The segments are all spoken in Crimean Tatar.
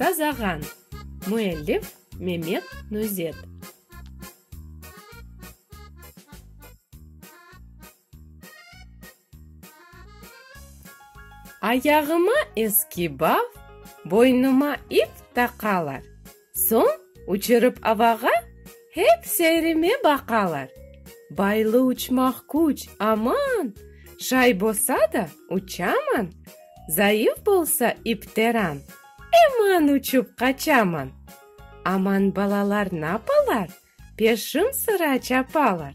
Sazağan, müellif, Memet Nuzet. Ayağıma eski baf, boynuma ip taqalar, Soñ uçurıp avağa hep seyrime baqalar. Baylı uçmaq küç, aman! Şay bosa da, uçaman, Zayıf bolsa ipteran, Eman uçup qaçaman. Aman balalar napalar, Peşim sıra çapalar,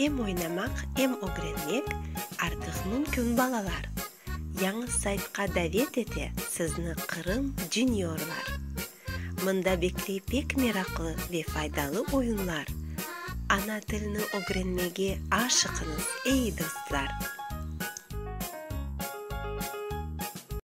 Em oynamaq, em ögrenmek artıq mümkün balalar! Yañı saytqa davet ete sizni Qırım Juniorlar. Mında bekley pek meraqlı ve faydalı oyunlar. Ana tilni ögrenmege aşıqıñız, ey dostlar!